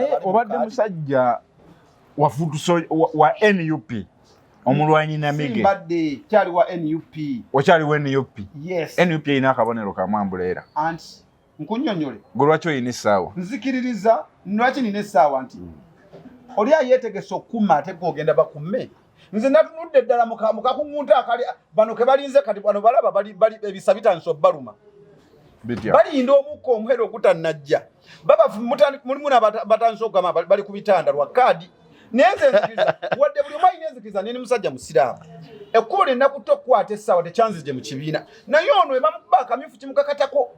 naye obadde musajja wafutuso wa, wa nup omulwanyi namige mbadde kyali wa nup okyali wa nup yes nup erina akabonero kamwambula era anti nkunyonyole gwe lwaki olina essaawa nzikiririza lwaki nina essaawa nti mm. oli ayeetegese okukuma ate gwe ogenda bakume nze natunudde ddala mukakuŋunta akali bano kebalinze kati bano balaba ebisa bitandisa obaluma balinda omukka omuhere ogutanajja mulimu batandisa okugamba bali ku bitanda lwa kaadi naye nze nzikiriza wadde buli omu alina enzikiriza nini musajja musiraamu ekkubo lyenakutte okukwata essaawa tekyanzije mu kibiina naye ono ebamukuba akamyufu kimukakatako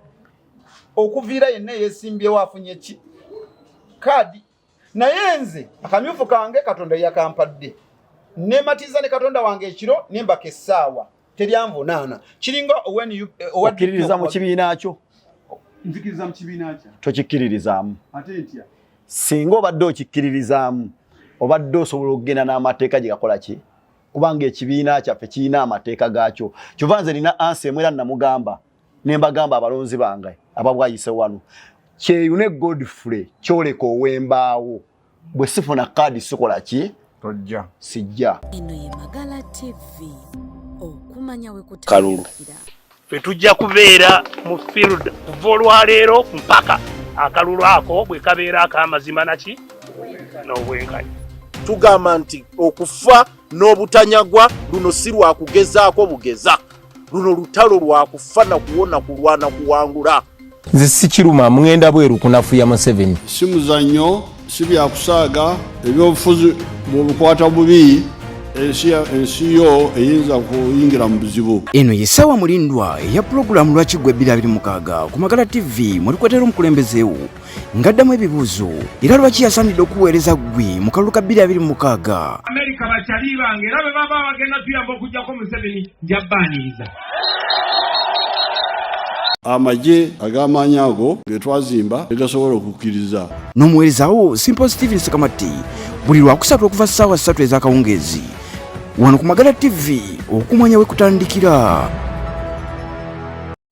okuviira yenna eyesimbyewo afunye ki kaadi naye nze akamyufu kange katonda yakampadde nematiza ne katonda wange ekiro nembaka essaawa teryanvunaana kiringa owakkiririza mu kibiina kyo tokikkiririzaamu singa obadde okikkiririzaamu obadde osobola okugenda n'amateeka gye gakola ki kubanga ekibiina kyaffe kirina amateeka gaakyo kyova nze nina ansi emwera namugamba ne mbagamba abalonzi bange ababwayise wano kyeyune godfrey kyoleka owembaawo bwe sifuna kaadi sikola ki tojja sijja eno ye magala tv okumanya we kalulu fe tujja kubeera mu field kuva olwaleero mpaka akalulu ako bwe kabeera ak'amazima naki n'obwenkanya tugamba nti okufa n'obutanyagwa luno si lwa kugezaako bugeza luno lutalo lwa kufa na kuwona kulwana kuwangula nze sikiruma mugenda bweru kunafuya museveni si muzannyo si byakusaaga ebyobufuzi bwebukwata bubi ensi yo eyinza kuyingira mu buzibu eno yesawa mulindwa eya pulogulaamu lwaki gwe 226 ku magala tv mwe tukwetera omukulembezeewo ngaddamu ebibuuzo era lwaki yasaanidde okuweereza ggwe mu kalulu ka 226 amerika bakyali bange era bwe baba bagenda tuyamba okugyako museveni njabbaaniriza amagye ag'amaanyi ago ge twazimba tegasobola okukkiriza n'omuweerezawo simple steven sekamatti buli lwakusatu okuva ssaawa ssatu ez'akawungeezi wano ku magala ttivi okumanya we kutandikira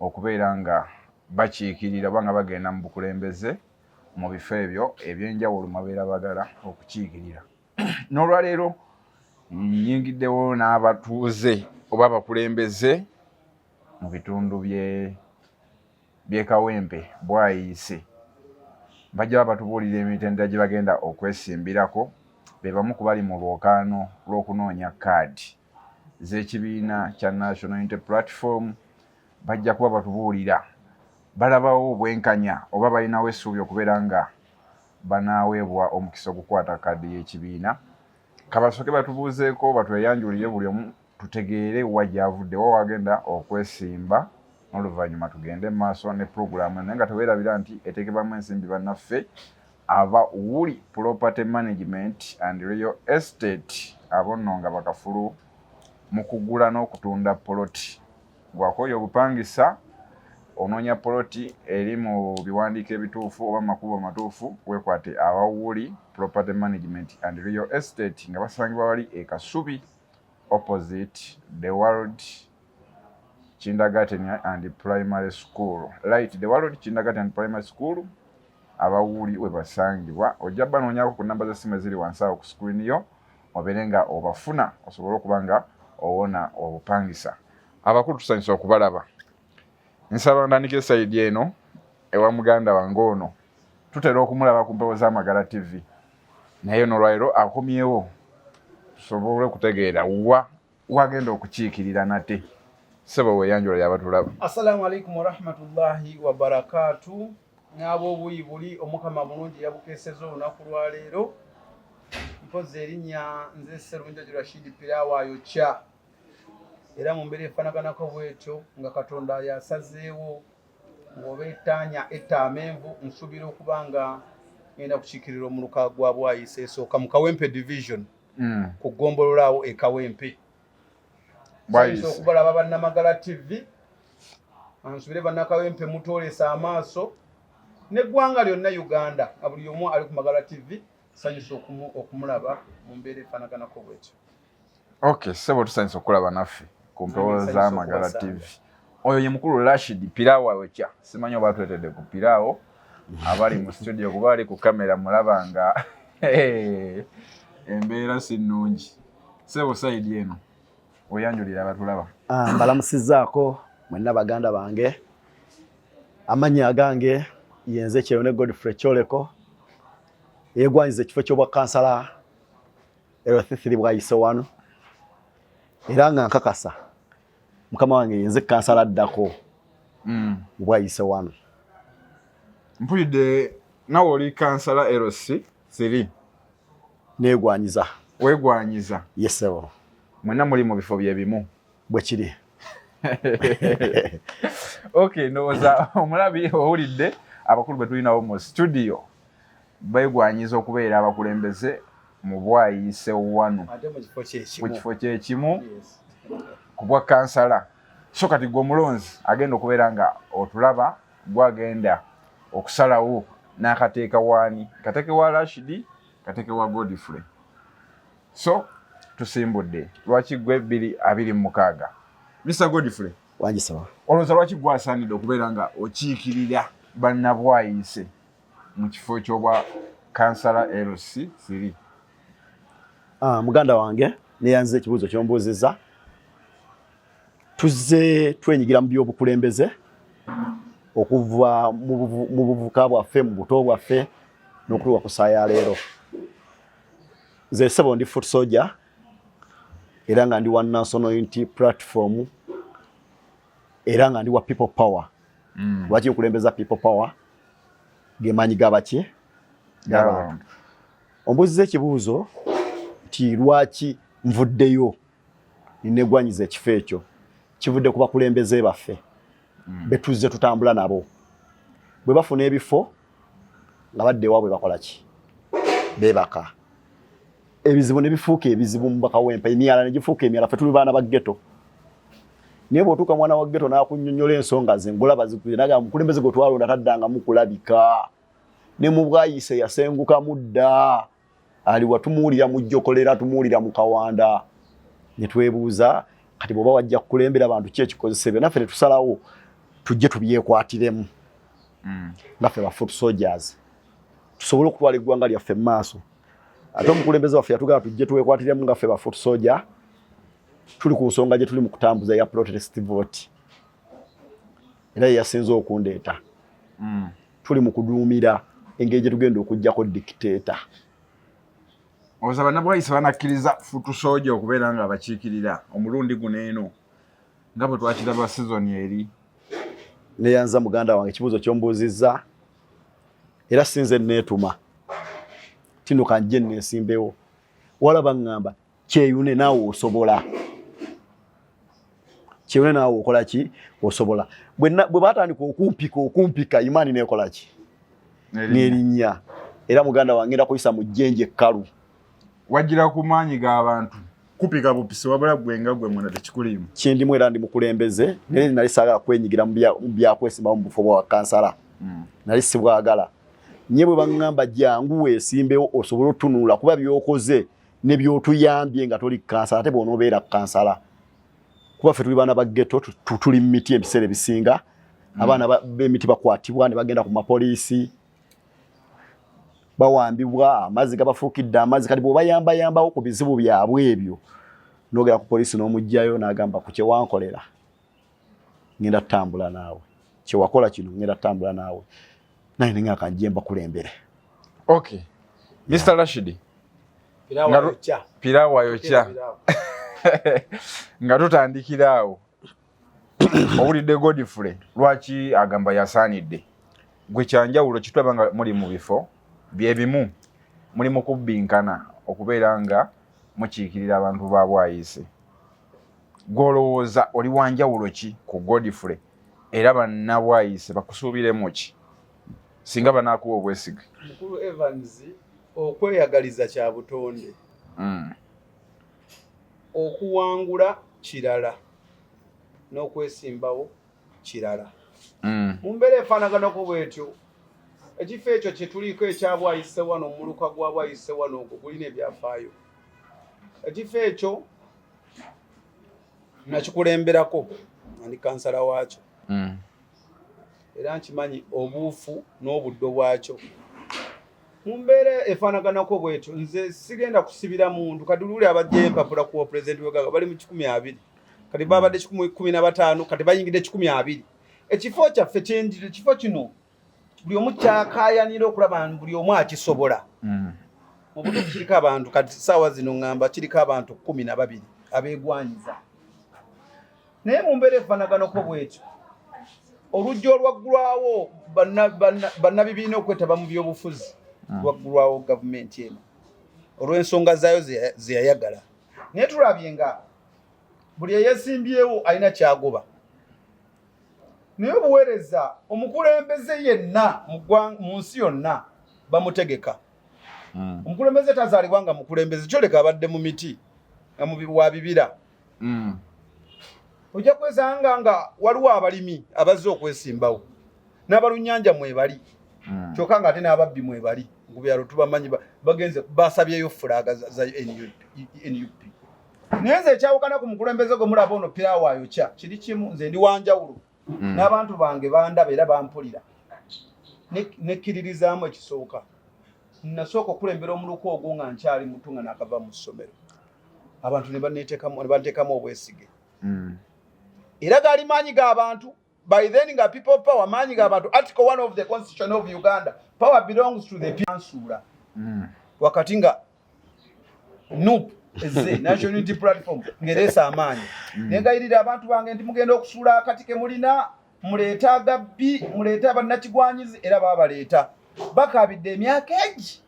okubeera nga bakiikirira oba nga bagenda mu bukulembeze mu bifo ebyo ebyenjawulo mabeera bagala okukiikirira n'olwaleero nyingiddewo n'abatuuze oba abakulembeze mu bitundu byekawempe bwayiise bajja ba batubuulira emitendera gye bagenda okwesimbirako be bamu ku bali mu lwokaano lw'okunoonya kaadi z'ekibiina kya National Unity Platform bajja kuba batubuulira balabawo obwenkanya oba balinawo essuubi okubeera nga banaaweebwa omukisa ogukwata kaadi y'ekibiina kabasooke batubuuzeeko batweyanjulire buli omu tutegeere wa gyavudde wa wagenda okwesimba n'oluvannyuma tugende mu maaso ne pulogulaamu naye nga teweerabira nti eteekebwamu ensimbi bannaffe aba Wuli Property Management and Real Estate abo nno nga bakafulu mu kugula n'okutunda poloti gwakooya obupangisa onoonya poloti eri mu biwandiiko ebituufu oba makubo matuufu wekwate aba Wuli Property Management and Real Estate nga basangibwa wali e Kasubi opposite the world kindergarten and primary school light the world kindergarten and primary school abawuuli we basangibwa ojja banoonyako ku namba za simu eziri wansi awo ku sikulini yo obeere nga obafuna osobole okuba nga owona obupangisa abakulu tusanyusa okubalaba nsaba ntandika esayidi eno ewa muganda wange ono tutera okumulaba ku mpewo z'amagala tv naye nolwaliro akomyewo tusobole okutegeera wa wagenda okukiikirira nate sebo weyanjula yabatulaba assalamu alaikum warahmatullahi wabarakatu n'abobuyi buli omukama mulungi yabukeseza olunaku lwaleero mpozi erinnya nze serunjaju rashid pirawayo kya era mu mbeera efanaganako bwetyo nga katonda yasazeewo ng'oba etaanya etta amenvu nsuubira okuba nga ngenda kukiikirira omuluka gwa bwayisa esooka mu kawempe division mm. ku ggombolola awo ekawempe ayinza okubalaba bannamagala tv ansubire bannakawempe mutoolesa amaaso neggwanga lyonna uganda nga buli omu ali ku magala tv sanyusa okumulaba mu mbeera efanaganako bwekyo ok sebo tusanyusa okukulaba naffe ku mpewo za magala tv oyo ye mukulu Rashid Piraawo ayokya simanyi oba twetedde ku Piraawo abali mu studio kuba ali ku kamera mulaba nga embeera si nnungi sebo sayidi eno weyanjulira abatulaba ah, mbalamusizaako mwenna baganda bange amannya agange yenze kyeyo ne Godfrey Kyoleko yegwanyiza ekifo ky'obwa kansala erwathithiri bwayise wano era nga nkakasa mukama wange yenze kansala addako mm. bwayise wano mpulidde nawe oli kansala lc siri negwanyiza wegwanyiza yesebo mwena muli mu bifo byebimu bwekiri ok ndowooza omulabi owulidde abakulu betulinawo mu studio begwanyiza okubeera abakulembeze mu bwayise wanu ku kifo kyekimu ku bwa kansala so kati gwe omulonzi agenda okubeera nga otulaba gwagenda okusalawo n'akateeka waani kateeke wa rashidi kateeke wa godfrey so tusimbudde lwaki gwe biri abiri mumukaaga mr godfrey wangisaba olowooza lwaki gwasaanidde okubeera nga okiikirira bannabwayise mu kifo ky'obwa kansala LC siri ah, muganda wange neyanziza ekibuuzo kyombuuziza tuzze twenyigira mu by'obukulembeze okuva mu buvuka bwaffe mu buto bwaffe n'okutuuka ku saa ya leero nze sebo ndi foot soldier era nga ndi one national unity platform era nga ndi wa people power mm. lwaki nkulembeza people power gemaanyi gabaki gabantu ombuziza ekibuuzo nti lwaki nvuddeyo ninegwanyiza ekifo ekyo kivudde ku bakulembeze baffe mm. betuzze tutambula nabo bwe bafuna ebifo nga badde ewaabwe bakola ki bebaka ebizibu ne bifuuka ebizibu mu bakawempa emyala ne gifuuka emyala ffe tuli baana ba ghetto naye bw'otuuka mwana wa ghetto n'akunnyonnyola ensonga ze ngolaba zikwiye naga mukulembeze gwe twalonda taddangamu kulabika ne mu bwayise yasenguka mudda ali watumuwulira mu jjokolera tumuwulira mu kawanda ne twebuuza kati bw'oba wajja kukulembera bantu ki ekikozesa ebyo naffe ne tusalawo tujje tubyekwatiremu mm. nga ffe ba foot soldiers tusobole okutwala eggwanga lyaffe mu maaso ate omukulembeze waffe yatugamba tujje tuwekwatiremu nga ffe ba foot soldier tuli ku nsonga gye tuli mu kutambuza ya protest vote era ye yasinze okundeeta mm. tuli mu kuduumira engeri gye tugenda okuggyako dictator oza banabwayisa banakkiriza futu sooja okubeera nga abakiikirira omulundi guno eno nga bwe twakiraba sizoni eri neyanza muganda wange ekibuuzo kyombuuzizza era sinze neetuma tino kanjje neesimbewo wala baŋŋamba kyeyune naawe osobola kyeyune naawe okola ki osobola bwe baatandika okumpika okumpika imaani neekola ki n'erinnya era muganda wange ngenda kuyisa mu jjenje kkalu wajira ku maanyi g'abantu kupika bupisi wabula gwe nga gwe mwena tekikuliimu kyendimu era ndi mukulembeze naye nali saagala kwenyigira mu byakwesibawo mu bufo bwa kansala mm. nali sibwagala nye bwe baŋŋamba jangu weesimbewo osobole otunula kuba byokoze ne byotuyambye nga toli kansala ate bwonoobeera kansala kuba ffe tuli baana ba geto tuli mu miti ebiseera ebisinga mm. abaana b'emiti bakwatibwa ne bagenda ku mapoliisi bawambibwa amazzi gabafuukidde amazzi kati bwobayambayambawo ku bizibu byabwe ebyo nogera ku polisi n'omugjayo nagamba ku kyewankolera ngenda tutambula naawe kyewakola kino ngenda tutambula naawe naye ninga kanjje mbakulembere okay mr rashidi pirawa yokya nga tutandikira awo owulidde godfrey lwaki agamba yasaanidde gwe kyanjawulo kitulaba nga muli mu bifo byebimu muli mu kubbinkana okubeera nga mukiikirira abantu ba bwayise gwolowooza oli wanjawulo ki ku godfrey era banna bwayise bakusuubiremu ki singa banaakuwa obwesige mukulu evans okweyagaliza kya butonde mm. okuwangula kirala n'okwesimbawo kirala mm. mu mbeera efaanaganako bwetyo ekifo ekyo kye tuliko ekya bwayise wano omuluka gwa bwayise wano ogwo gulina ebyafaayo ekifo ekyo nakikulemberako ndi kansala waakyo mm. era nkimanyi obuufu n'obuddo bwakyo mu mbeera efaanaganako bwetyo nze sigenda kusibira muntu kati luli abajja empapula ku pulezidenti wegaga bali mu kikumi abiri kati babadde kikumi na bataano kati bayingidde kikumi abiri ekifo kyaffe kyenjiri ekifo kino buli omu kyakayanira okulaba buli omu akisobola mm. mu butuufu kiriko abantu kati saawa zino ŋŋamba kiriko abantu kumi na babiri abeegwanyiza naye mu mbeera efanaganako bwetyo oluggi olwaggulwawo bannabibiina okwetaba mu byobufuzi ah. lwaggulwawo gavumenti eno olw'ensonga zaayo zeyayagala naye tulabye nga buli eyesimbyewo alina kyagoba naye obuweereza omukulembeze yenna mu nsi yonna bamutegeka hmm. omukulembeze tazaalibwa nga mukulembeze kyoleka abadde mu miti nga wa bibira mm. ojja kwesanga nga waliwo abalimi abazze okwesimbawo n'abalunyanja mwebali mm. kyokka nga ate n'ababbi mwebali ku byalo tubamanyi bagenze basabyeyo fulaga za nup naye nze ekyawukana ku mukulembeze gwe mulaba ono pirawo ayokya kiri kimu nze ndi wanjawulo mm. n'abantu bange bandaba era bampulira nekkiririzaamu ekisooka nasooka okulembera omuluka ogwo nga nkyali mutu nga nakava mu ssomero abantu nebanteekamu obwesige mm. era gaali maanyi g'abantu by then nga people power maanyi g'abantu article one of the constitution of uganda power belongs to the piansuula mm. wakati nga nup ezze national unity platform ngereesa amaanyi mm. nengayirira abantu bange nti mugenda okusuula akati ke mulina muleeta agabbi muleeta bannakigwanyizi era baba baleeta bakaabidde emyaka egi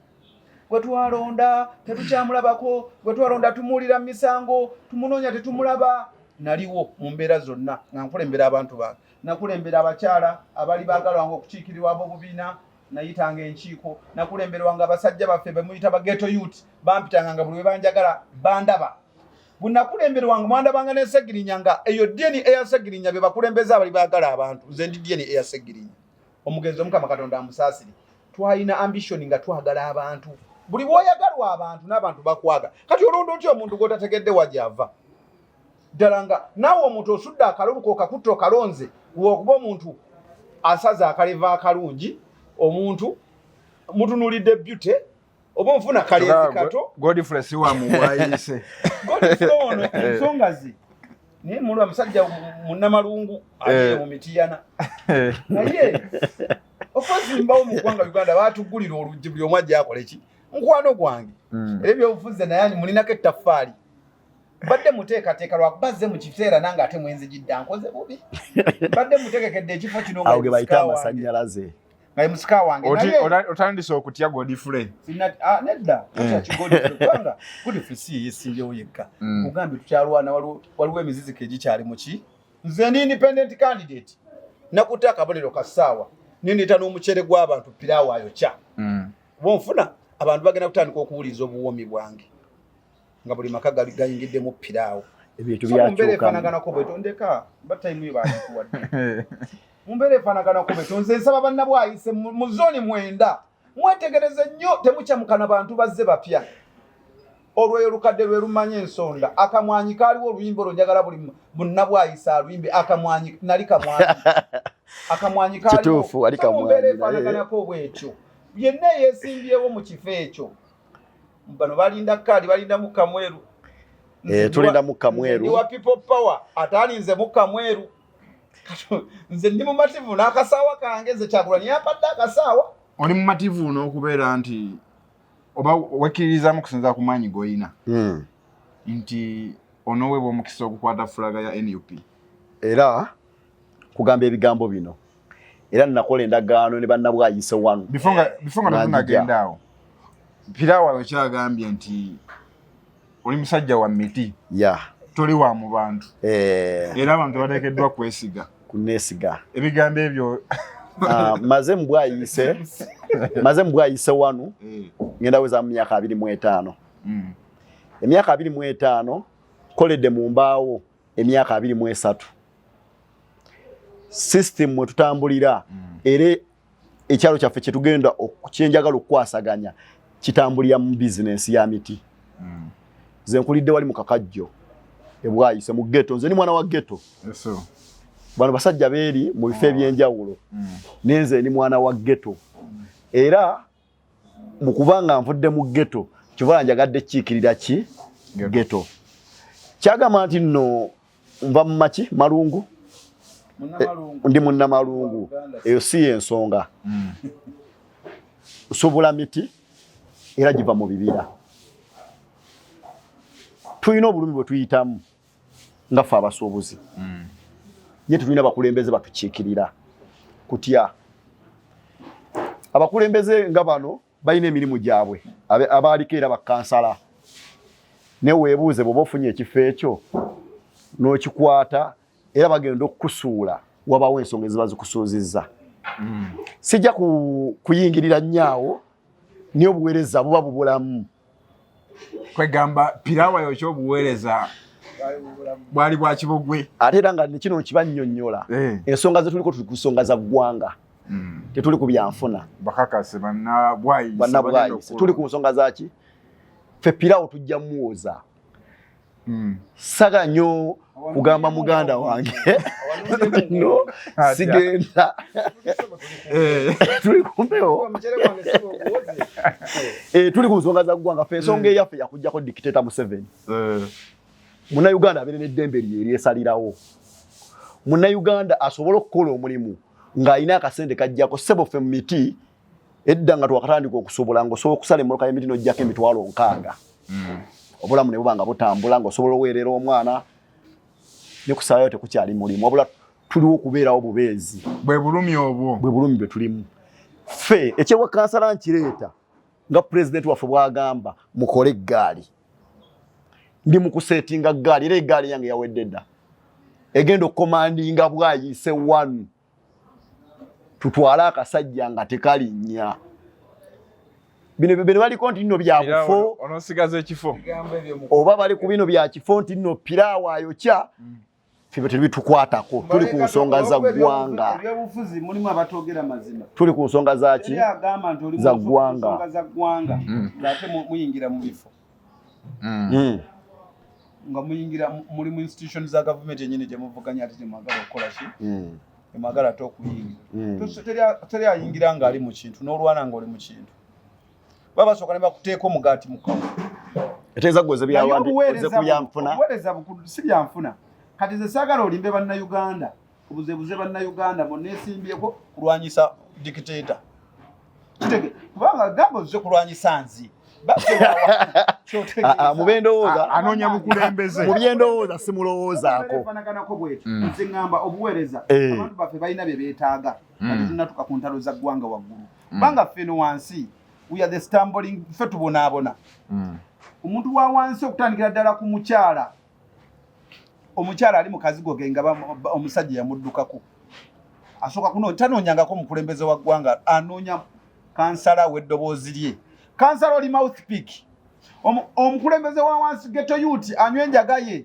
gwe twalonda tetukyamulabako gwe twalonda tumuwulira mu misango tumunoonya tetumulaba naliwo mu mbeera zonna nga nkulembera abantu bange nakulembera abakyala abali baagala wange okukiikirirwa ab'obubiina nayitanga enkiiko nakulemberwanga abasajja baffe bemuyita bageto yut bampitanga nga buli webanjagala bandaba bwenakulemberwanga mwandabanga nesegirinya nga eyo dini eyasegirinya bebakulembeza abali bagala abantu nze ndi dini eyasegirinya omugenzi omukama katonda amusaasire twalina ambitioni nga twagala abantu buli bwoyagalwa abantu n'abantu bakwaga kati olunda otya omuntu gwotategedde wajava ddala nga naawe omuntu osudde akaluluka okakutta okalonze wokuba omuntu asaza akaleva akalungi omuntu mutunulidde byute oba onfuna kalezi kato godfresiwamuwayise godfreono ensonga ze naye mulwa musajja munamalungu aye eh. mumitiyana naye okwezimbawo mu ggwanga uganda batugulira oluggi buli omu ajja akoleki mukwano gwange hmm. era ebyobufuzi naye mulinako ettaffaali mbadde muteekateeka lwakuba azze mu kiseera nange ate mwenzijidda nkoze bubi mbadde mutegekedde ekifo kino awo ge bayita amasannyalaze nga musika wange otandise okutya godfrey ah, nedda kubanga godfrey si yesinjewo yekka mm. ogambye tukyalwana waliwo emiziziko egikyali muki nze ndi independent candidate nakutte akabonero ka ssaawa nendeeta n'omucere gw'abantu piraawo ayokya mm. bonfuna abantu bagenda kutandika okuwuliriza obuwoomi bwange nga buli maka gali gayingiddemu piraawo ebintu byakyukamubeera efanaganako bweto ndeka ba tayimu yebaikuwadde mumbeera efanaganako bweto nze nsaba bannabwayise mu zooni mwenda mwetegereze nnyo temukyamukana bantu bazze bapya olwoyo olukadde lwe lumanya ensonda akamwanyi kaaliwo oluyimba olwo njagala buli munnabwayise aluyimbe akamwanyi nali kamwanyi akamwanyi kaaliwo mumbeera efanaganako bwetyo yenna eyesimbyewo mu kifo ekyo bano balinda kaadi balinda mukka mweru eh, tulinda mukka mweru wa people power atalinze mukka mweru nze ndi mumativu n'akasaawa kange nze kyagula niye apadde akasaawa oli mumativu n'okubeera nti oba wekkiririzamu kusinza ku maanyi g'olina hmm. nti onoweebwa omukisa ogukwata fulaga ya nup era kugamba ebigambo bino era nakola endagaano ne bannabwayise wanu bifongabifongagendawo pirawo abakyagambye nti oli musajja wa miti ya toli wa mu bantu eh. era abantu bateekeddwa kwesiga kunesiga ebigambo ebyo ah, maze mubwayise maze mubwayise wanu eh. ngenda weza mu myaka abiri mu etaano mm. emyaka abiri mu etaano koledde mu mbaawo emyaka abiri mu esatu system mwe tutambulira mm. era ekyalo kyaffe kye tugenda kyenjagala okukwasaganya kitambulira mu bizinensi ya miti mm. nze nkulidde wali mu kakajjo ebwayise mu geto nze ni mwana wa geto bano basajja beeri mu bifo ah. ebyenjawulo mm. nenze ni mwana wa geto era mukuba nga nvudde mu ghetto kibala njagadde kiikirira ki ghetto kyagamba nti nno nva mu maki malungu eh, ndi munnamalungu eyo si yensonga hmm. nsobola miti era giva mu bibira tulina obulumi bwe tuyitamu nga ffe abasuubuzi mm. ye tetulina bakulembeze batukiikirira kutya abakulembeze nga bano balina emirimu gyabwe abaaliko era bakansala naye weebuuze bweoba ofunye ekifo ekyo n'okikwata era bagenda okukusuula wabawo ensonga eziba zikusuuzizza mm. sijja kuyingirira nnyo awo naye obuweereza buba bubulamu kwegamba pirawa yokyo obuweereza bwali bwakibogwe ate era nga nekino nkibanyonyola eh. ensonga zetuliko tuli ku nsonga za ggwanga hmm. tetuli ku byanfuna bakakase banabwayise tuli ku nsonga zaki fe pirawo tujja muwoza mm. saga nyo kugamba muganda wange no sigenda eh. tuli kumpewo eh, tuli ku nsonga za ggwanga fe ensonga mm. eyaffe yakujjako dictator museveni eh. munauganda abeere n'eddembe lye eryesalirawo munauganda asobole okukola omulimu ng'alina akasente kajjako sebo ffe mu miti edda nga twakatandika okusobola nga osobola okusala emmoloka y'emiti n'oggyako emitwalo nkaaga mm. obulamu ne buba nga butambula nga osobola oweerera omwana ne kusalayo tekukyali mulimu wabula tuliwo okubeerawo bubeezi bwe bulumi obwo bwe bulumi bwe tulimu ffe ekyewa kansala nkireeta nga pulezidenti waffe bwagamba mukole eggaali ndi mu kuseetinga ggaali era eggaali yange yawedde dda egenda okukomandinga bwayise wanu tutwale akasajja nga tekalinnya bino bino baliko nti nno byakufo onosigaza ekifo oba bali ku bino byakifo nti nno piraawo ayokya mm. febe tebitukwatako tuli ku nsonga za ggwanga tuli ku nsonga zaki za ggwanga mm. mm. mm. nga muyingira muli mu institution za gavumenti enyini gyemuvuganya ati gyemwagala okukola ki mm. emwagala ate okuyingira mm. teri ayingira nga ali mu kintu n'olwana nga oli mu kintu baba basooka ne bakuteeka omugaati mu kawa eteeza gwoze byawandioze ku byanfuna obuweereza bukulu si byanfuna kati ze saagala olimbe bannayuganda obuzebuze bannayuganda munesimbyeko kulwanyisa dikiteta kitege kubanga gamba ozize kulwanyisa nzi ah, ah, mubendowooza ah, anonya mukulembeze mubyendowooza simulowoozaako mm. nze ŋamba obuweereza eh. abantu baffe balina bye beetaaga mm. ati tunatuka ku ntalo za ggwanga waggulu mm. banga ffeno wansi we are the stumbling ffe tubonaabona omuntu wa wansi okutandikira ddala ku mukyala omukyala ali mukazigo ge nga omusajja yamuddukako asooka kuno tanoonyangako omukulembeze wa ggwanga anoonya kansala w'eddoboozi lye kansala oli mouth pick omukulembeze wa wansi geto yuti anywa enjaga ye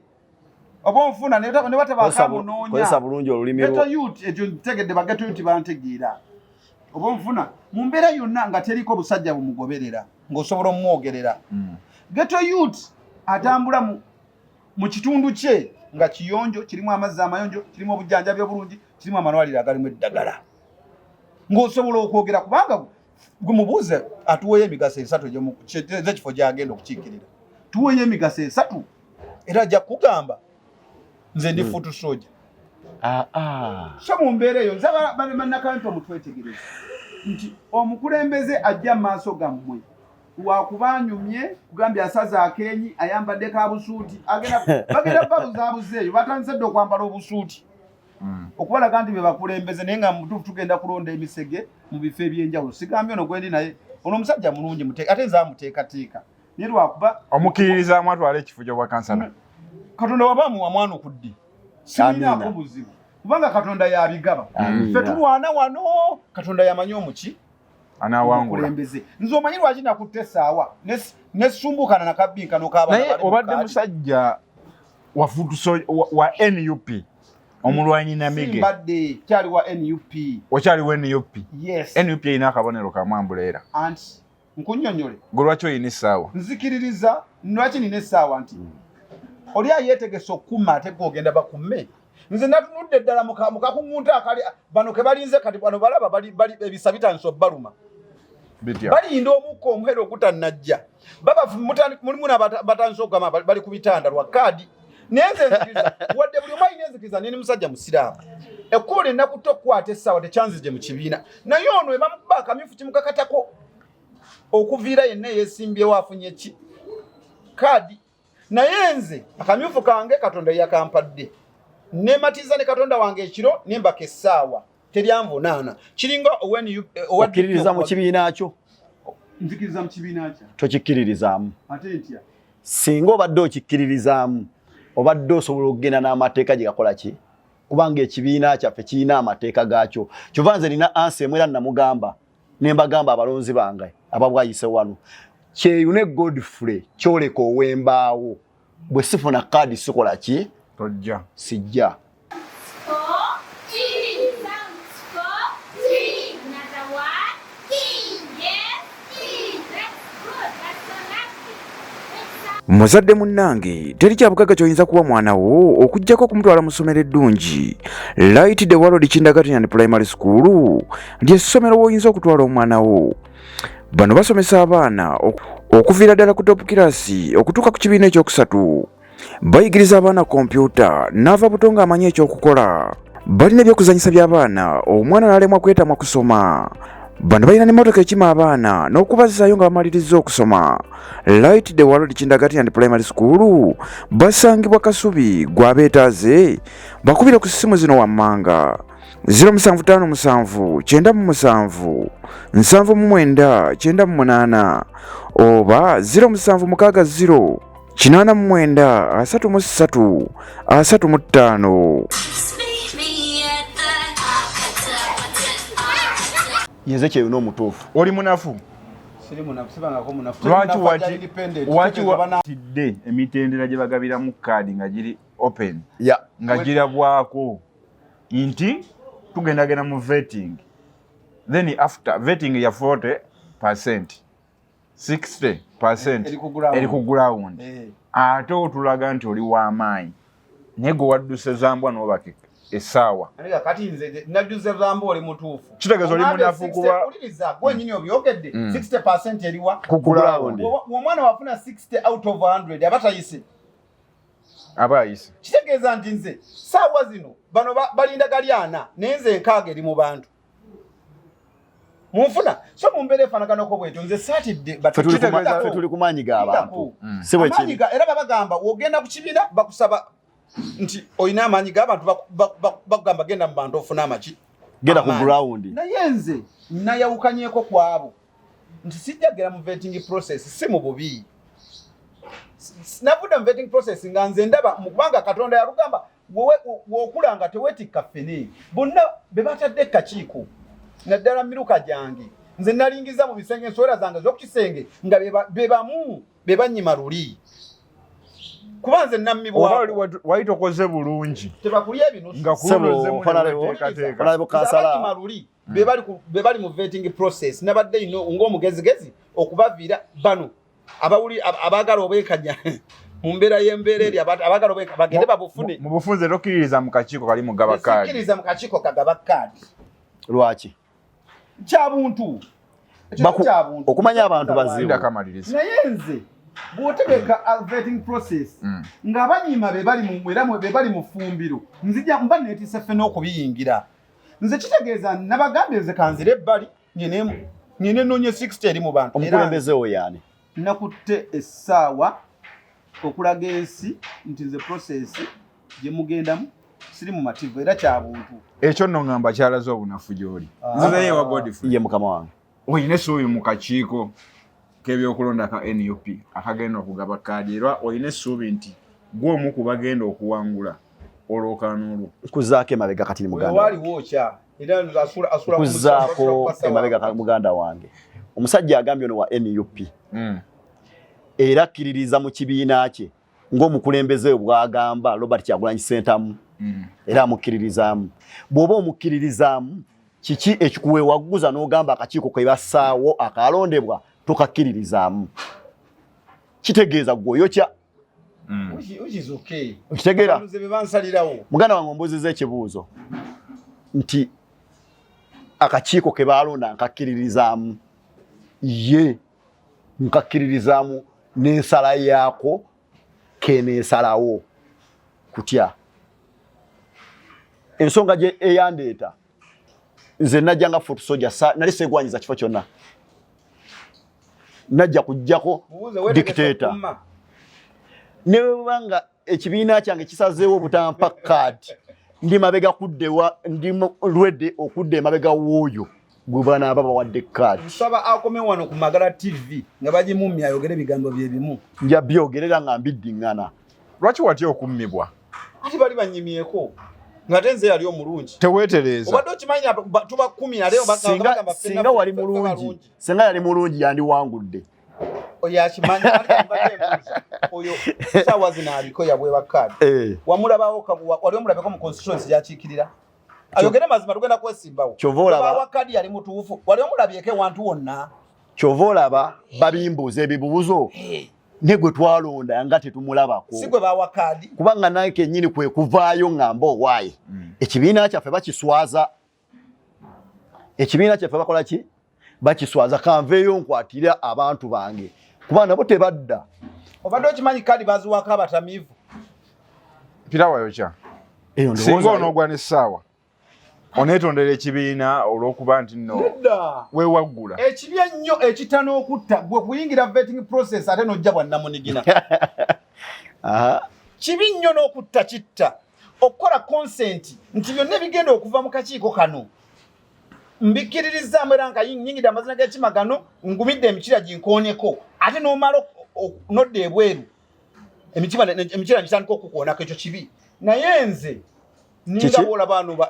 oba onfuna ne batabakamunoonya bulungi olulimi geto yuti ekyo ntegedde bageto yuti bantegeera oba onfuna mu mbeera yonna nga teriko busajja bumugoberera ng'osobola omumwogerera mm. geto yut atambula mu kitundu kye nga kiyonjo kirimu amazzi amayonjo kirimu obujjanjabi obulungi kirimu amalwaliro agalimu eddagala ng'osobola okwogera kubanga gwe mubuuze atuweeyo emigaso esatu ezekifo gyagenda okukiikirira tuweeyo emigaso esatu era ajja kugamba nze ndi hmm. futu soja ah, ah. so mu mbeera eyo nzabanakawempa mutwetegereza nti omukulembeze ajja mu maaso gammwe wakuba anyumye kugambye asaza akenyi ayambadde ka busuuti bagenda babuzabuza eyo batandise dde okwambala obusuuti hmm. okubalaga nti bebakulembeze naye nga mutuufu tugenda kulonda emisege mu bifo ebyenjawulo sigambye ono gwendi naye ono omusajja mulungi ate nze amuteekateeka naye lwakuba omukkiririzaamu atwala ekifo kyobwa kansala katonda waba amuwa mwana okuddi siinaako buzibu kubanga katonda yabigaba fe tulwana wano katonda yamanyi omuki anawangulakulembeze nze omanyi lwaki nakutte esaawa nesumbukana nakabinkanokabanaye obadde musajja wafutuso wa nup omulwanyi namigembadde kyali wa nup okyali wa nup yes nup erina akabonero kamwambuleera anti nkunyonyole gwe lwaki olina essaawa nzikiririza lwaki nina essaawa nti hmm. oli ayeetegese okukuma ate gwe ogenda bakume nze natunudde ddala mukakuŋŋunta akali bano ke balinze kati bano balaba ebisa bitandisa obaluma balinda omukka omuhera ogutannajja baba mulimu nabatandisa okugamba bali ku bitanda lwa kaadi naye nze nzikiriza wadde buli omu alina enzikiriza neni musajja musiraamu ekkubo lyenna kutta okukwata essaawa tekyanzije mu kibiina naye ono ebamukuba akamyufu kimukakatako okuviira yenna eyesimbyewo afunye ki kaadi naye nze akamyufu kange katonda yakampadde nematiza ne katonda wange ekiro nembaka essaawa teryanvunaana kiringa owenkiririza mu kibiina kyo nzikiriza mu kibiina kyo tokikkiririzaamu ate ntya singa obadde okikkiririzaamu obadde osobola okugenda n'amateeka gye gakola ki kubanga ekibiina kyaffe kirina amateeka gaakyo kyova nze nina ansi emu era namugamba ne mbagamba abalonzi bange ababwayise wano kyeyune godfrey kyoleka owembaawo bwe sifuna kaadi sikola ki tojja sijja muzadde munnange teri kyabugagga kyoyinza kuwa mwana wo okugyako okumutwala mu ssomero eddungi light the world kindergarten primary school lyessomero woyinza okutwala omwana wo bano basomesa abaana okuviira ddala ku top kirasi okutuuka ku kibiina ekyokusatu bayigiriza abaana kompyuta n'ava buto ng'amanyi ekyokukola balina ebyokuzanyisa by'abaana omwana n'alemwa kwetamwa kusoma bano balina n'emmotoka ekima abaana n'okubazzaayo nga bamalirizza okusoma light the world kindagati and primary school basangibwa kasubi gwabeetaaze bakubire ku ssimu zino wammanga 0757 oba 0760 kinaana mu mwenda asatu mu ssatu asatu mu ttaano yenze kyeyo n'omutuufu oli munafu lwaki watidde emitendera gye bagabiramu kaadi nga giri open nga girabwako nti tugendagenda mu vetting then after vetting ya 40 percent 60 percent eri ku ground eh. ate otulaga nti oli wamaanyi naye gwe wadduse zambwa nobaka esaawa kitegeeza oli munafu kuba gwenyini obyogedde 60 mm. percent eriwa ku ground omwana wafuna 60 out of 100 aba tayise aba ayise kitegeeza nti nze saawa zino bano balinda galyana naye nze enkaaga eri mu bantu munfuna so mumbeera efanaganako bwetyo nze satidde tuli ku maanyi ga bantu mm. era babagamba wogenda ku kibiina bakusaba nti olina amaanyi g'abantu bakugamba genda mu bantu ofuna amaki genda ku ground naye nze nayawukanyeko kwabo nti sijja gera mu vetting process si mu bubi navudde mu vetting process nga nze ndaba mukubanga katonda yalugamba wokula nga tewetikka ffene bonna be batadde kakiiko naddala miruka gyange nze nalingiza mu bisenge ensowera zange z'okukisenge nga be bamu be bannyima luli kuba nze nammibwawali tokoze bulungi nga kunoze muneweteekateeka luli mm. bebali bebali mu vetting process nabadde ino ng'omugezigezi okubaviira bano abawuli abagala obwekanya mu mbeera y'embeera eri abagala obweka bagende babufune mu bufunze tokkiririza mu kakiiko kali mugaba kaadi tokkiririza mu kakiiko kagaba kaadi lwaki kya buntu okumanya abantu bazibu naye nze bwotegeka vetting process mm. nga banyima bebali mu era bebali mu fumbiro nzija mba netise ffe n'okubiyingira nze kitegeeza nabagambye nze kanzire ebbali nyenemu nyine nonye 60 eri mu bantu omukulembeze oyo yani nakutte essaawa okulaga ensi nti nze process gye mugendamu siri mu mativu era kya buntu ekyo nno ŋŋamba kyalaze obunafu gy'oli ah. nzizeeyo ewa godfrey ye mukama wange oyina esi oyo mu kakiiko k'ebyokulonda ka nup akagenda okugaba kaadi era olina essuubi nti gwe omu ku bagenda okuwangula olwokaano olwo nkuzaako emabega kati ni mugandakuzaako emabega muganda wange omusajja agambye ono wa nup hmm. era akkiririza mu kibiina kye ng'omukulembeze we bwagamba Robert Kyagulanyi Ssentamu mm. era amukkiririzaamu bw'oba omukkiririzaamu kiki ekikuweewagguza n'ogamba akakiiko ke bassaawo akalondebwa tokakkiririzaamu kitegeeza gwoyokya mm. okitegeera muganda wange ombuuziza ekibuuzo nti akakiiko ke baalonda nkakkiririzaamu ye yeah. nkakkiririzaamu n'ensala yaako keneesalawo kutya ensonga gye eyandeeta nze najja nga foot soja nali segwanyiza kifo kyonna najja kujjako dictator newebanga ekibiina kyange kisazeewo obutampa card ndi mabega kuddewa ndi lwedde okudda emabega w'oyo gwe banaaba bawadde card nsaba akome wano ku magala tv nga bagimummi ayogere ebigambo bye bimu nja byogerera nga mbiddiŋŋana lwaki watya okummibwa ati bali banyimyeko ngate nze yali omulungi tewetereeza obadde okimanyi tuba kumi naleosinga wali mulungi singa yali mulungi yandiwangudde oyo akimanyi oyo saawa zino aliko yabweba kaadi eh. wamulabawo wali omulabeko mu constituency yakiikirira ayogere mazima tugenda kwesimbawo kyovaolaba kaadi yali mutuufu wali omulabyeko ewantu wonna kyova olaba babimbuuza ebibuuzo eh. ne gwe twalonda nga tetumulabako si gwe bawa kaadi kubanga naye kenyini kwe kuvaayo ng'amba owaaye hmm. ekibiina kyaffe bakiswaza ekibiina kyaffe bakola ki bakiswaza kanveeyo nkwatire abantu bange kuba nabo tebadda obadde okimanyi kadi baziwako abatamivu pirawayokya singa onogwa nesaawa onetondera ekibiina olwokuba nti no wewaggula ekibi ennyo ekita n'okutta gwe kuyingira vetting process ate nojja bwannamunigina kibi nnyo n'okutta kitta okukola konsenti nti byonna ebigenda okuva mu kakiiko kano mbikkiririzaamu era nga nyingidde amazina g'ekima gano ngumidde emikira ginkooneko ate n'omala nodda ebweru emitima emikira ngitandika okukuonako ekyo kibi naye nze ninga bwola baano ba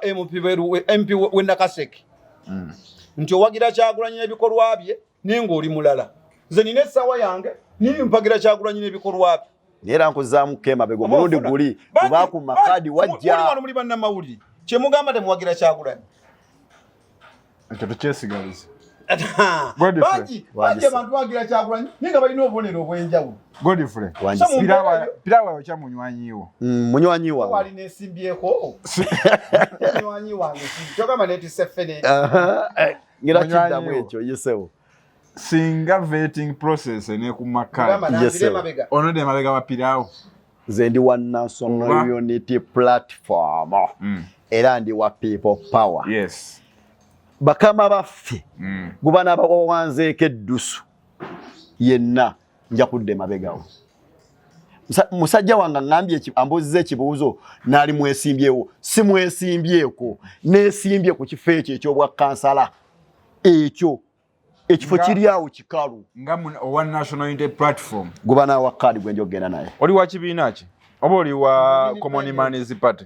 mp wenakaseke mm. nti owagira kyagulanyi n'ebikolwa bye naye ng'oli mulala nze nina essaawa yange nini mpagira kyagulanyi n'ebikolwa bye naye era nkuzaamu kemabega omulundi guli kubaakuma kaadi wajjawano muli bannamawulire kyemugamba temuwagira kyagulanyi ekyo tukyesigaliza bangi bangi abantu bagira kyagulanyi naye nga balina obubonero obw'enjawulo godfrey pirawa yokya munywanyiwo mm, munywanyiwali nesimbyeko munywanyi wange kyogamba netise fene ngira kiddamu ekyo yesewo singa vetting process enekumakkaonode emabega wapirawo nze ndi wa national unity platform mm. era ndi wa people power yes. bakama baffe mm. guba nabawawanzeeko eddusu yenna nja kudda emabegawo musajja wange aŋambye ambuuziza ekibuuzo naali mwesimbyewo si mwesimbyeko nesimbye ku kifo ekyo ekyobwa kansala ekyo ekifo kiri awo kikalu guba nawa kaadi gwenja okugenda naye oli wa kibiina ki oba oli wa commonmans party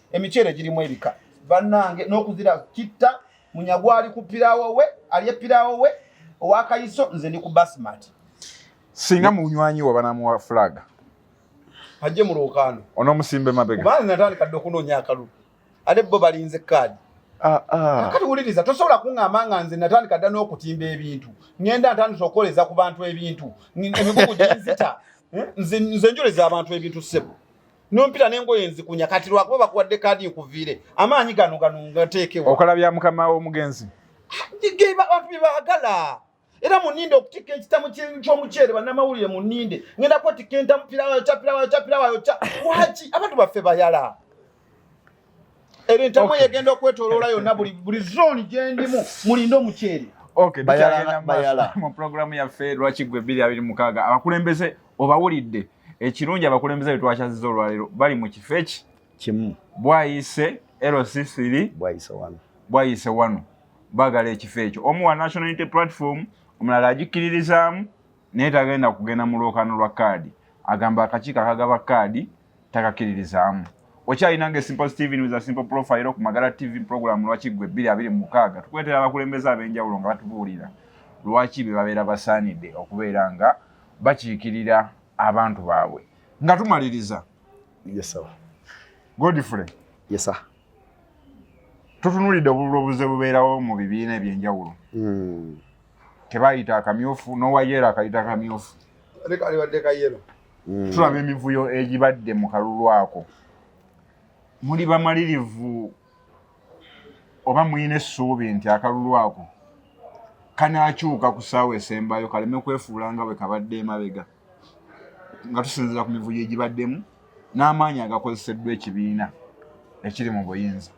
emiceere girimu ebika bannange n'okuzira kitta munyagwa ali ku piraawo we ali epiraawo we owakayiso nze ndi ku basmat singa munywanyi wa banamuwa fulaga ajje mu lwokaano onomusimbe mabega kubanga natandika dde okunoonya akalulu ate bo balinze kaadi ah, ah. kati wuliriza tosobola kuŋŋamba nga nze natandika dda n'okutimba ebintu ŋenda ntandisa okukoleza ku bantu ebintu emigugu ginzita eh? nze njoleza abantu ebintu ssebo nompita nengoye nzikunya kati lwakuba bakuwadde kaadi nkuviire amaanyi gano gano ngateekewa okola bya mukama w'omugenzi geba abantu bye baagala era muninde okutikka ekitamu ky'omuceere bannamawulire muninde ngenda kwetikka entamu pirawayo ca pirawayo ca pirawayo ca waki abantu baffe bayala era entamu okay. yegenda okwetoloola yonna buli buli zoni gyendimu mulinde omuceeri okay, bayala, bayala. mu pulogulaamu yaffe lwaki gwe bbiri abiri mukaaga abakulembeze obawulidde ekirungi abakulembeze be twakyaziza olwaleero bali mu kifo eki kimu bwayise lcthiri bwayise wano bwayise wano bagala ekifo ekyo omu wa national unity platform omulala agikkiririzaamu naye tagenda kugenda mu lwokaano lwa kaadi agamba akakiiko akagaba kaadi takakiririzaamu okyalina nga esimple steven wiza simple profile ku magala tv program lwaki gwe bbiri abiri mu mukaaga tukuleetera abakulembeze ab'enjawulo nga batubuulira lwaki be babeera basaanidde okubeera nga bakiikirira abantu baabwe nga tumaliriza godfrey yesa tutunuulidde obululu obuze bubeerawo mu bibiina eby'enjawulo hmm. tebayita akamyufu nowayelo akayita akamyufu hmm. tulaba emivuyo egibadde mu kalulu ako muli bamalirivu oba mulina essuubi nti akalulu ako kanakyuka ku saawa esembayo kaleme kwefuula nga bwe kabadde emabega nga tusinzira ku mivuyo egibaddemu n'amaanyi agakozeseddwa ekibiina ekiri mu buyinza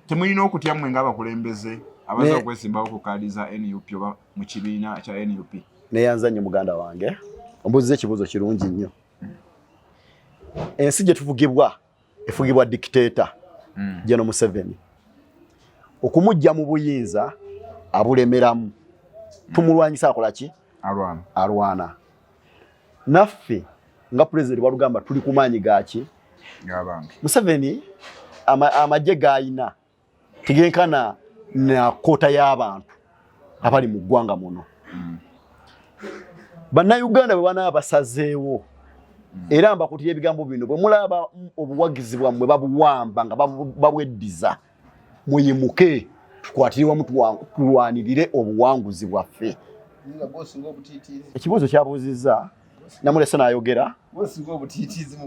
temulina okutya mmwe ng'abakulembeze abaza okwesimbawo ku kaadi za nup oba mu kibiina kya nup neyanza nnyo muganda wange ombuziza ekibuuzo kirungi nnyo ensi gye tufugibwa efugibwa dikiteeta hmm. geno museveni okumujja mu buyinza abulemeramu tumulwanyisa akola ki alwana alwana naffe nga pulezidenti walugamba tuli ku maanyi gaki museveni amagye gaalina tegenkana na koota y'abantu abali mu ggwanga muno mm. bannayuganda bwe banaaba basazeewo mm. era mbakutira ebigambo bino bwe mulaba obuwagizi bwammwe babuwamba nga babweddiza muyimuke tukwatire wamu tulwanirire obuwanguzi bwaffe ekibuuzo kyabuuzizza namulese nayogera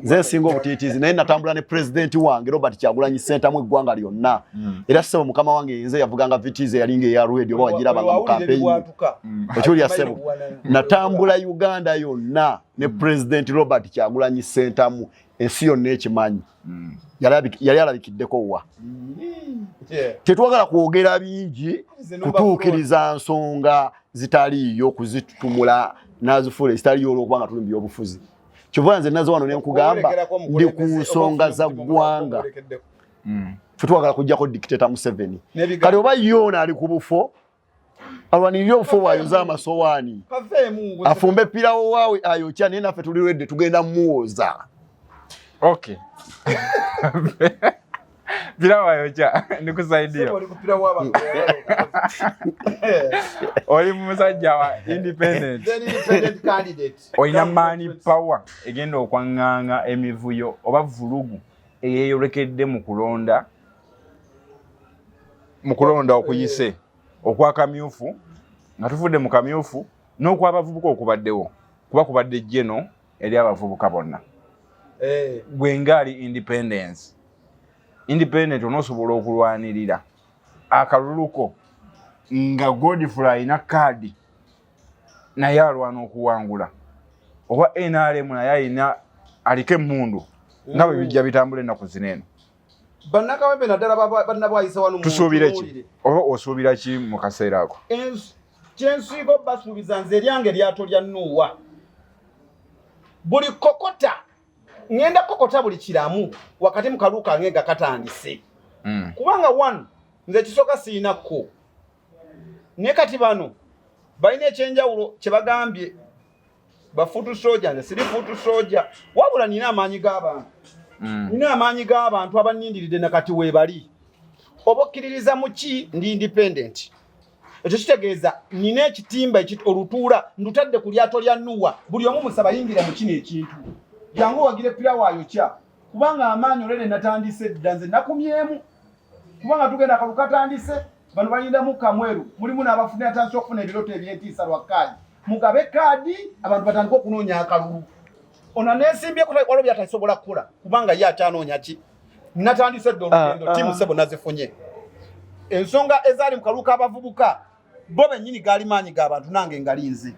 nze nsinga obutiitiizi naye natambula ne pulezidenti wange robert kyagulanyi sentamu eggwanga lyonna hmm. era sebo mukama wange yenze yavuganga vitiizi eyalinga eya rwedi oba wagirabanga mu kampeyi hmm. okiwulira sebo natambula uganda yonna ne hmm. pulezidenti robert kyagulanyi sentamu ensi yonna ekimanyi mm. yali alabikiddeko wa mm. tetwagala kwogera bingi kutuukiriza nsonga zitaliiyo okuzitumula nazifuula ezitaliyo olwokuba nga tuli mu byobufuzi kyova nze nazo wano nenkugamba ndi ku nsonga za ggwanga mm. fe twagala kujjako dictator museveni kati oba yoona ali ku bufo alwanirire obufu bwayonze amasowaani afumbe pirawo waawe ayokya naye naffe tuli redde tugenda muwooza okay pirawo ayokya nikusaidia oli musajja wa independent olina maani power egenda okwanganga emivuyo oba vulugu eyeyolekedde mu kulonda mu kulonda okuyise okwa kamyufu nga tuvudde mu kamyufu n'okwabavubuka okubaddewo kuba kubadde jeno eri abavubuka bonna eh. gwe ngaali independence independent onosobola okulwanirira akaluluko nga godfrey alina kaadi naye alwana okuwangula oba nrm naye alina aliko emundu nga bwe bijja bitambula ennaku zino eno bannakawempe naddala bannabwayisa wano tusuubire ki oba osuubira ki mu kaseera ako kyensiiga obasuubiza nze eryange lyato lya nuuwa buli kokota ŋenda kokota buli kiramu wakati mu kaluu kange nga katandise hmm. kubanga one nze ekisooka siyinakko naye kati bano balina ekyenjawulo kyebagambye bafutu soja nze siri futu soja wabula nina amaanyi g'abantu mm. nina amaanyi g'abantu abanindiridde nakati webali oba okkiririza mu ki ndi independent ekyo kitegeeza nina ekitimba olutuula ndutadde ku lyato lya nuwa buli omu musaba yingira mu kino ekintu jangu wagire pira waayokya kubanga amaanyi olwene natandise dda nze nakumyemu kubanga tugenda kalu katandise bano balindamu kamweru mulimu n'abafuna atandise okufuna ebirooto ebyentiisa lwa kaadi mugabe kaadi abantu batandika okunoonya akalulu ono nesimbye kutali kwalo byatasobola kukola kubanga ye akyanoonya ki natandise dda olugendo ah, ah. timu sebo nazifunye ensonga ezaali mu kaluka abavubuka bo bennyini gaali maanyi ga bantu nange ngali nze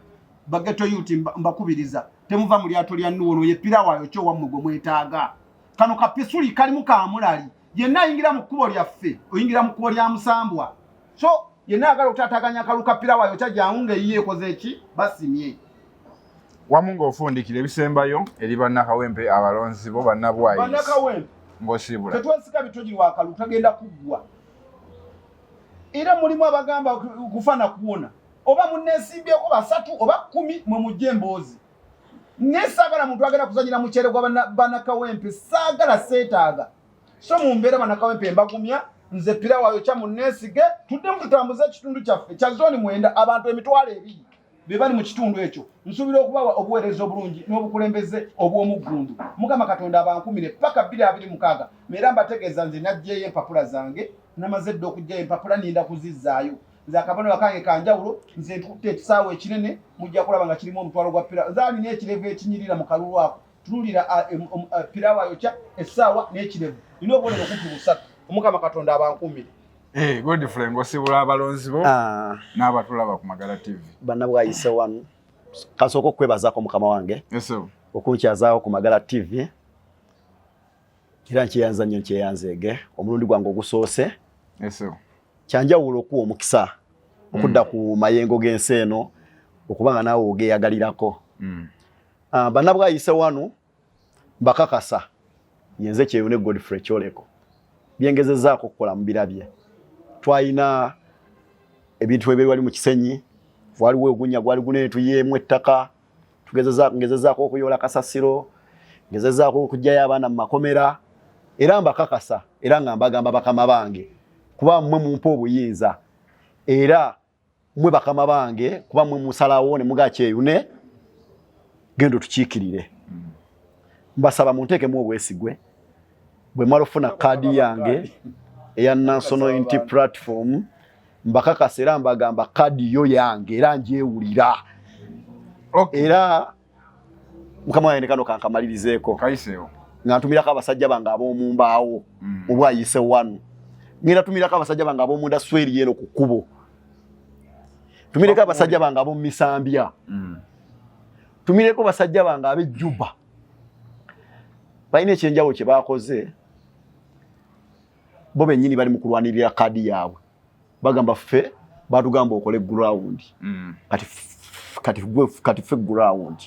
bageto yuti mbakubiriza temuva mu lyato lya nuwo noye pirawaayo kyo wammwe gwe mwetaaga kano kapisuli kalimu kamulali yenna ayingira mu kkubo lyaffe oyingira mu kkubo lya musambwa so yenna agala okutataganya akalu ka pirawaayo kya jangu ngaeyiye ekoze eki basimye wamu ng'ofundikira ebisembayo eri bannakawempe abalonzi bo bannabwayi ng'osiibula tetwesika bitogirwa akalu tagenda kuggwa era mulimu abagamba kufa na kuwona oba munesimbyeko basatu oba kumi mwe mujja emboozi naye saagala muntu agenda kuzanyira mukyere gwa banakawempe saagala seetaaga so mu mbeera banakawempe mbagumya nze pirawayo kya muneesige tuddemu tutambuze ekitundu kyaffe kya zooni mwenda abantu emitwalo ebiri be bali mu kitundu ekyo nsuubira okubawa obuweereza obulungi n'obukulembeze obw'omuggundu mukama katonda abankumire paka bbiri abiri mukaaga meera mbategeeza nze naggyeyo empapula zange namaze dda okuggyayo empapula ninda kuzizzaayo nze akabonero kange kanjawulo nze ntutte ekisaawa ekinene mujja kulaba nga kirimu omutwalo gwa pira nze alina ekirevu ekinyirira mu kalulu ako Tulira pirawo ayokya essaawa n'ekirevu nina obubonero kumpi busatu omukama katonda abankumire eh, godfrey ngosibula abalonzi bo ah. n'abatulaba ku magala tv banna bwayise wanu kasooka okwebazako mukama wange okunkyazaawo ku magala tv era nkyeyanza nnyo nkyeyanzeege omulundi gwange ogusoose kyanjawulo okuwa omukisa okudda mm. ku mayengo g'ensi eno okuba nga naawe ogeyagalirako mm. Ah, banna bwayise wano bakakasa yenze kyeyune Godfrey Kyoleko byengezezaako okukola mu birabye twalina ebintu ebiri wali mu kisenyi waliwo ogunya gwali gunene tuyeemu ettaka ngezezaako okuyoola kasasiro ngezezaako okugyayo abaana mu makomera era mbakakasa era nga mbagamba bakama bange kuba mmwe mumpa obuyinza era mwe bakama bange kuba mwe musalawo ne muga kyeyune gendo tukikirire mbasaba munteke mu obwesigwe bwe mala ofuna kaadi yange eya National Unity Platform mbakakasa era mbagamba kaadi yo yange era njewulira era mukama wange nekano kankamalirizeeko nga ntumirako abasajja bange ab'omu mbaawo mm. obwayise wanu ngenda tumirako abasajja bange ab'omu ndasweri eno ku kkubo tumireko abasajja bange ab'omu misambya mm. tumireko basajja bange ab'ejjuba balina ekyenjawulo kye baakoze bo bennyini bali mu kulwanirira kaadi yaabwe bagamba ffe batugamba okole ground mm. kati kati gwe kati ffe ground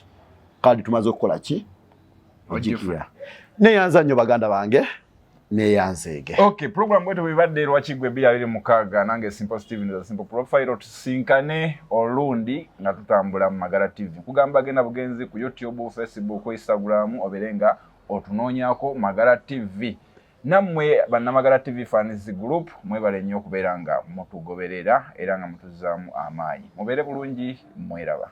kadi tumaze okukola ki ojikira neyanza nnyo baganda bange neyanzeege okay program bwetu bwibadde lwaki gwe bya biri mukaaga nange simple steven the simple profile tusinkane olundi nga tutambula mu magala tv kugamba genda bugenzi ku youtube facebook instagram oberenga otunoonyako magala tv nammwe bannamagala tv fans group mwebale nnyo okubeera nga mutugoberera era nga mutuzaamu amaanyi mubeere bulungi mweraba